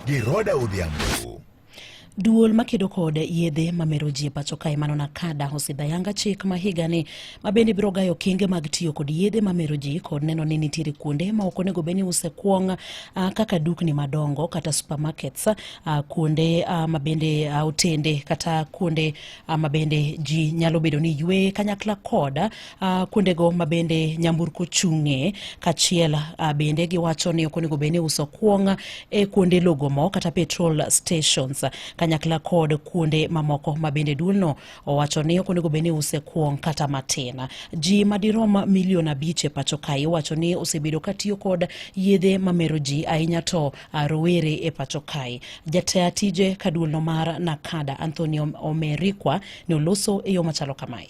Giroda Odhiambo. Duol makedo kod yedhe mamero ji e pacho kae mano Nakada osidhayanga chik ma higani ma bende biro gayo kinge mag tiyo kod yedhe mamero ji kod neno ni nitiere kuonde ma ok onego bed ni use kuong' ah, kaka dukni madongo kata supermarkets ah, kuonde ah, ma bende otende kata kuonde ma bende ji nyalo bedo ni ywe kanyakla kod uh, kuondego ma bende nyamburko chung'e kachiel uh, bende giwacho ni ok onego bed ni uso kuong' e kuonde logo mo kata petrol stations kanyakla kod kuonde mamoko ma bende duolno owacho ni ok onego bed ni use kuong' kata matin. Ji madirom milion abich e pacho kae iwacho ni osebedo katiyo kod yedhe mamero ji ahinya to uh, rowere e pacho kae. Jataa tije kaduolno mar Nakada Anthony Omerikwa ne oloso e yo machalo kamae.